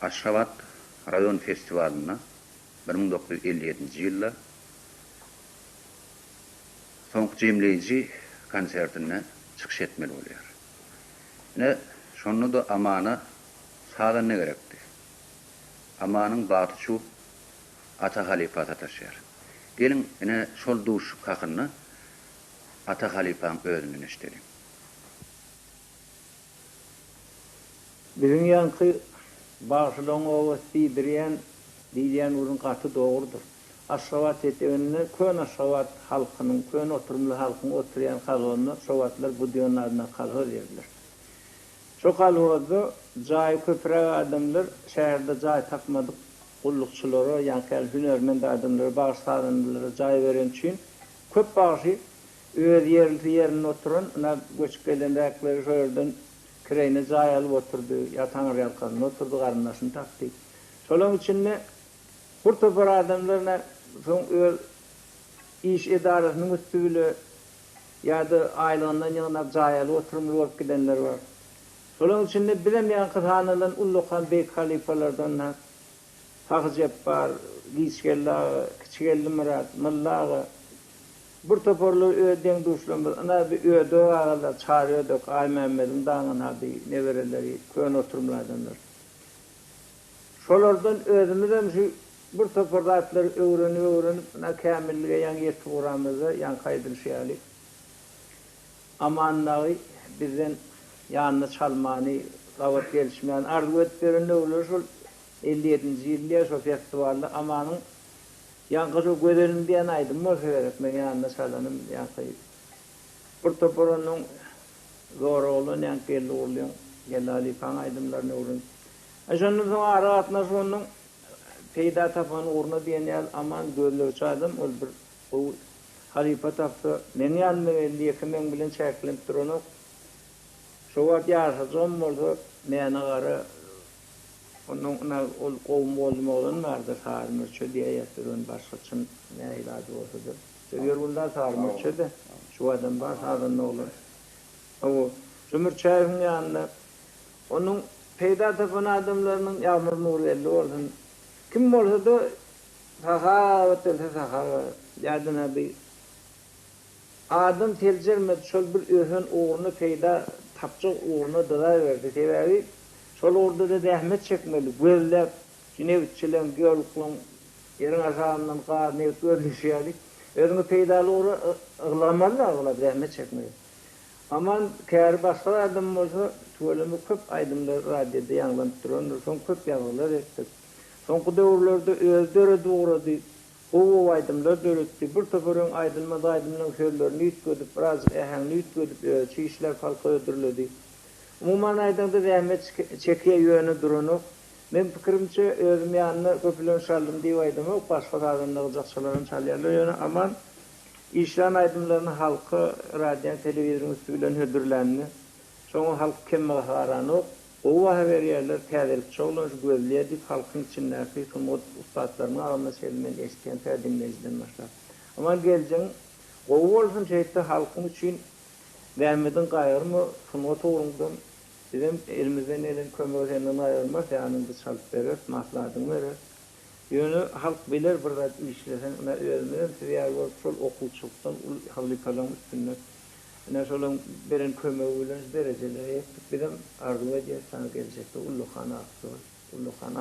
Aşgabat raýon festiwalynda bir müň dokuz ýüz elli ýedinji ýylda soňky jemleýji konsertinde çykyş etmeli bolýar. Ine, şonda-da Amana sazanda gerekdi. Amanyň bagty şu Ata halypa sataşýar. Geliň, ine, şol duşuşyk hakynda Ata halypaň özünden eşideliň. Biziň ýaňky bagşylaryň oba Sidriýan diýilýän ugry gaty dogrudyr. Aşgabat eteginde köne aşgabat halkynyň, köne oturymly halkyň oturýan kalhozynda şo wagtlar Budýonyň adyndaky kalhoz ýerdir. Şo kalhozda jaýy köpüräk adamlar şäherde jaý tapmadyk gullukçylara, ýaňky ýaly hünärment adamlara, bagşy-sazandalara jaý bereni üçin köp bagşy Öz ýerlisi ýerinde oturan, ynha, göçüp gelenräkleri şo ýerden kireýine jaý alyp oturdy, ýa taňyrýalkasynda oturdy, garyndaşyny tapdy. Şolaryň içinde bir topar adamlar, ynha, soň öz iş edarasynyň üsti bile ýa-da aýlygyndan ýygnap jaý alyp oturymly bolup gidenler bar. Şolaryň içinde bizem ýaňky sanalan ullakan beýik halypalardan, ynha, Sahy Jepbar, Giçgeldi aga, Kiçigeldi Myrat, Mylla aga, bir toparlar öz deň-duşlarymyz, ynha bir Ödek agalar, Çary Ödek, Aýmämmediň daňynady nebereleri, köne oturymly adamlar. Şolardan özümizem şu bir topar zatlary öwrenip-öwrenip, ynha kämillige ýaňy ýetip ugramyzda, ýaňky aýdylyşy ýaly. Aman dagy bizden ýanyny çalmany, gabat gelişmäni arzuw edip beren döwürleri şol elli ýedinji ýyl diýýär, şol festiwalda Amanyň ýaňky şo Gözelim diýen aýdymy bolsa gerek, meň ýanyna çalanym, ýaňky bir topar onnoň Zora oglan, ýaňky Geldi gurlyň, Geldi halypaň aýdymlaryny öwrenip. Aý şondan soň aragatnaşyk onnoň peýda tapan ugruna diýen ýaly Aman gözlegçi adam, ol bir. Bu halypa tapsa, meň ýanymda belli ýeke meň bilen çäklenip duranok. Şo wagt ýaşajygym bolsa, mäne gara, onnoň ynha ol gowumy boldum oglan bardyr, Sary Mürçe diýäýersiz ony başga çyn nähili ady bolsa-da. Şo Ýerguldan Sary Mürçe-de, şu adam bar sazanda oglan. Hawa, şo Mürçäýewiň ýanynda onuň peýda tapan adamlarynyň, Ýagmyr Nurgeldi bolsun, kim bolsa-da Sahawat etse sahawat. Ýadyna bir adam seljermedi, şol bir ösen ugruna, peýda tapjak ugruna dyzaberdi. Sebäbi şol ugurda-da zähmet çekmeli, gözläp, şu nebitçiligiň, geologiýaň, ýeriň aşagyndan gaz, nebit gözleýşi ýaly, özüňi peýdaly ugra ylgamaly-da aglaba, zähmet çekmeli. Aman käri başga bir adam bolsa, tüweleme köp aýdymlar radioda ýaňlanyp durandyr, soň köp ýazgylar etdik. Soňky döwürlerde özi döredip ugrady, gowy-gowy aýdymlar döretdi. Bir topar öň aýdylmaz aýdymlaryň sözlerini üýtgedip, birazjyk äheňini üýtgedip özi şu işläp halka hödürledi. Umuman aýdaňda zähmet çekýä ýöne duranok. Men pikirimçe özüm ýanyna köpülen şaldym diýip aýdamok, başga sazan nygjakçylaram çalýarlar ýöne Aman işlän aýdymlaryny halka radioň telewizoryň üsti bilen hödürlänini şoňa halk kemmaha garanok. Gowy baha berýärler, täzelik çowlaş, gözleýärdik, halkyň içindäki sungat ussatlarynyň agzyndan şeýle men eşitýän tä diňleýjiden başlap. Aman geljegiň gowy bolsun şeýtde halkyň üçin zähmediň gaýgyrma sungat ugrundan bizem elimizden gelen kömegi senden gaýgyrmarys ýanyňda çalyp bereris maslahatyňy bereris. Ýöne halk biler bir zat işleseň ine özümizem siz ýaly bolup şol okuwçylykdan ul halypalaň üstünde ine şolaň beren kömegi bilen şu derejelere ýetdik bizem arzuw edýäs saňa geljekde ullakan atly bol ullakan